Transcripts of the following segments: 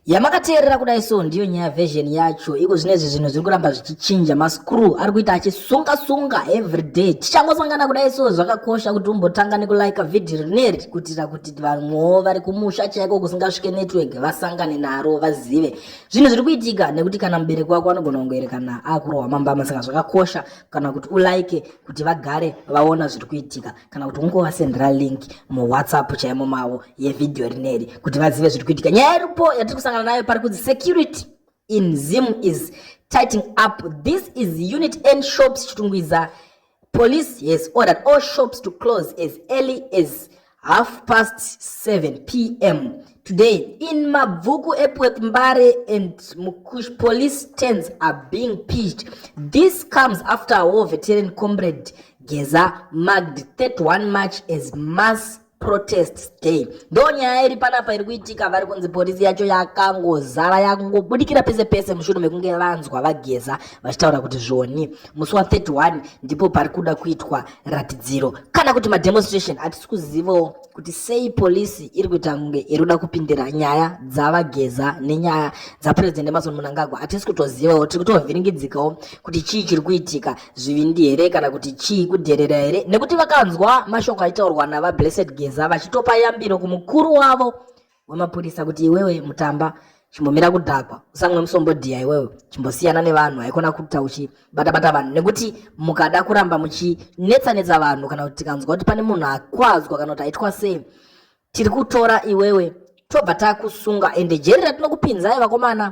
yamakateerera kudai so ndiyo nyaya version yacho iko zvinezvi zvinhu zviri kuramba zvichichinja mascrew ari kuita achisunga sunga everyday tichangosangana kudai so zvakakosha kuti umbotanga nekulike vhidhi rineri kuitira kuti vamwewo vari kumusha chaiko kusingasvike network vasangane naro vazive zvinhu zviri kuitika nekuti kana mubereki wako anogona kungoerekana akurohwa mambama saka zvakakosha kana kuti ulike kuti vagare vaona zviri kuitika kana kuti ungovasendera link muwhatsapp chaimo mavo yevhidhiyo rineri kuti vazive zviri kuitika nyaya iripo yatiri kusangana nayo pari kunzi security in zim is tighting up this is unit n shops chitungwiza police has ordered all shops to close as early as half past 7 p m today in mabvuku epweth mbare and mukush police stands are being pitched this comes after a war veteran comrade Geza marked 31 March as mass protest day. Ndo nyaya iri panapa iri kuitika vari kunzi polisi yacho yakangozara yakungobudikira pese pese mushure mekunge vanzwa vageza vachitaura kuti zvoni musi wa 31 ndipo pari kuda kuitwa ratidziro kana kuti mademonstration hatisi kuzivawo kuti sei polisi iri kuita kunge iri kuda kupindira nyaya dzavageza nenyaya dzapurezidendi emason munangagwa hatisi kutozivawo tiri kutovhiringidzikawo kuti chii chiri kuitika zvivindi here kana kuti chii kudherera here nekuti vakanzwa mashoko aitaurwa navablessed geza vachitopa yambiro kumukuru wavo wemapurisa kuti iwewe mutamba chimbomira kudhakwa usamwe musombodhiya iwewe chimbosiyana nevanhu haikona kuita uchibata bata vanhu nekuti mukada kuramba muchinetsa netsa vanhu kana kuti tikanzwa kuti pane munhu akwadzwa kana kuti aitwa sei tiri kutora iwewe tobva takusunga ende jeri ratinokupinzai vakomana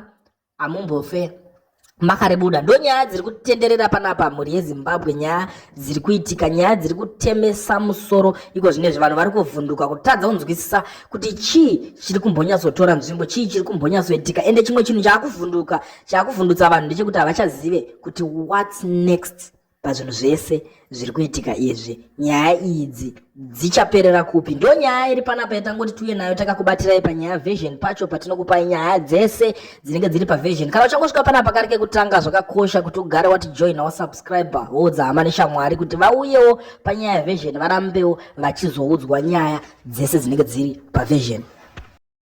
hamumbofe makaribuda ndonyaya dziri kutenderera panapa mhuri yezimbabwe nyaya dziri kuitika nyaya dziri kutemesa musoro iko zvine zve vanhu vari kuvhunduka kutadza kunzwisisa kuti chii chiri kumbonyatsotora nzvimbo chii chiri kumbonyatsoitika ende chimwe chinhu chaakuvhunduka chaakuvhundutsa vanhu ndechekuti havachazive kuti whats next pazvinhu zvese zviri kuitika izvi nyaya idzi dzichaperera kupi ndo nyaya iri panapa yatangoti tiuye nayo takakubatirai panyaya vision pacho patinokupai nyaya dzese dzinenge dziri pavision kana uchangosvika panapa kari kekutanga zvakakosha kuti ugare wati join wasubscribe woudza hama neshamwari kuti vauyewo panyaya vision varambewo vachizoudzwa nyaya dzese dzinenge dziri pavision